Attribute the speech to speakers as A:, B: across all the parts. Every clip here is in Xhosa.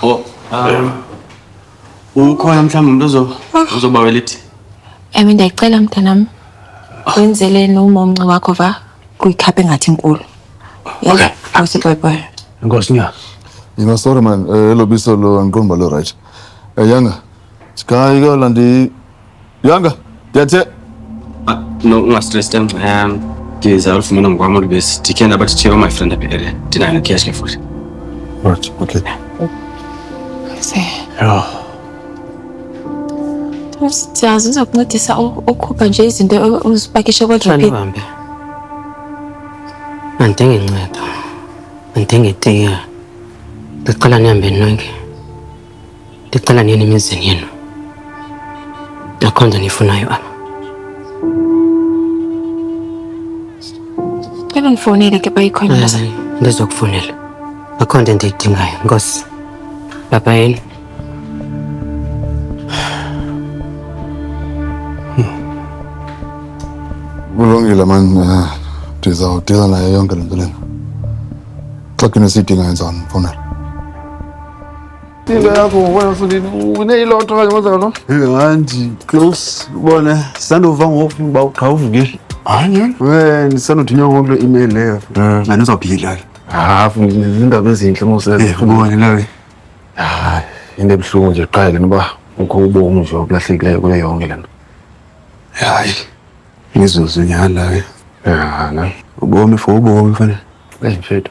A: Oh, um, ukhona mhlawumbi umntu ozo- ozobawela iti Emi ndiyacela
B: mntanam wenzele nomomnci wakho va kuyikhaphe ngathi inkulu. Okay.
A: Yes, boy boy.
B: Enkosi nya.
A: Yina sorry man,
C: eh, elo biso lo andiqondi uba lirayithi. Eh, Yanga, sikayi kuyolanda i- Yanga, tete. Ah, no,
A: no stress them. Um, there's a lot of men on Guamul base. Tiken about to cheer my friend up here. Tina and Kiash Kefur. Right,
C: okay. I see.
A: Yeah.
B: Siyazi uzokuncedisa ukhupha nje izinto uzipakishe kodropini. Bambe.
D: Andinge inceda. Andinge tiya. Ndicela nihambe nonke. ndicela nini emizini yenu akho nto niyifunayo apha cela undifowunele
B: ke bayikhona mnazane ndizokufunela
D: akho nto endiyidingayo nkosi baba yenu
C: kulungile mani eh, ndizawudila nayo yonke le nto lena xa kune siyidingayo ndizawundimfunela
E: hanti close
F: bona sisandova ngoku uba uqha uvukile we
E: ndisandothi nyongo
F: kule email leyo andizawuphilala
E: hafu
F: zindaba ezintle mosebone lawe
E: hayi
F: into ebuhlungu nje qala lena uba ukho ubomi nje okulahlekileyo kuyo yonke lena hayi
E: mizuzu nyhani lawe yana
F: ubomi for
E: ubomi fanele eyi mfethu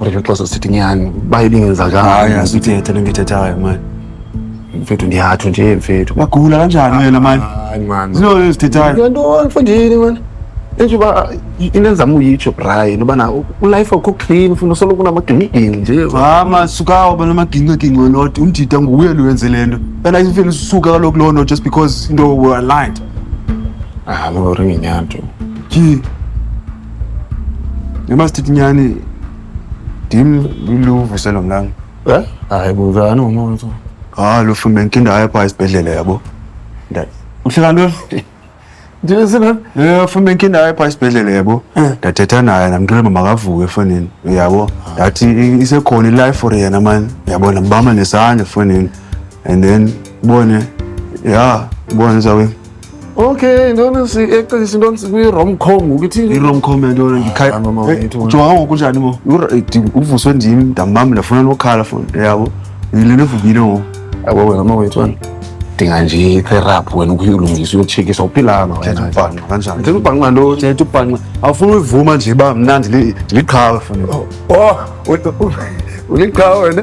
F: Ureke xesha sithi nyhani uba ibingenzakanga hayi asithethe le nto
E: ithethayo mani mfethu
F: ndiyatsho nje mfethu uyagula kanjani wena
E: mani Hayi, man. ziloo
F: ezithethayo Into- into
E: mfundini
F: mani entsho uba into endizama uyitsho brian ubana ulife akho clean funa usoloko unamagingigini nje mama sukawo
E: bana amagincegince wenoti umdida nguye lo wenze le nto and ifile usuka kaloku loo nto just because into were aligned ah
F: makaringenyanto tyhi
E: Noma sithi nyani dim luluvu selo mlanga. Eh? Hayi bo
F: zani umuntu so. Ah lo fume
E: nkinda haya pha isibhedlela yabo. Ndati. Uhlala ntoni? Ndile
F: sina. Eh fume
E: nkinda haya pha isibhedlela yabo. Ndathetha naye namntwana mama kavuke efonini yabo. Ndathi i- isekhona ilife for yena man. Yabo nambama nesandla efonini. And then bone yeah bone zawe Okay,
F: ndona si-actor sintoni sikwi-romcom ukuthi iromcom yantona Ah, no, no, wait,
E: wait. ndijonga
F: ngoku njani mo
E: uvuswe ndim ndambam ndafuna nokhala fon yabo yile nto evukile ngoku yabo wena mawethu
F: wena dinga nje itherapy wena ukuyilungisa uyotshekisa uphilanga thetha wena ubhanqa kanjani ndithetha
E: ubhanqa ntoni thetha
F: ubhanqa awufuni
E: uyivuma nje uba mna ndili- ndiliqhawe fon oh
F: u- u- uliqhawe
E: wena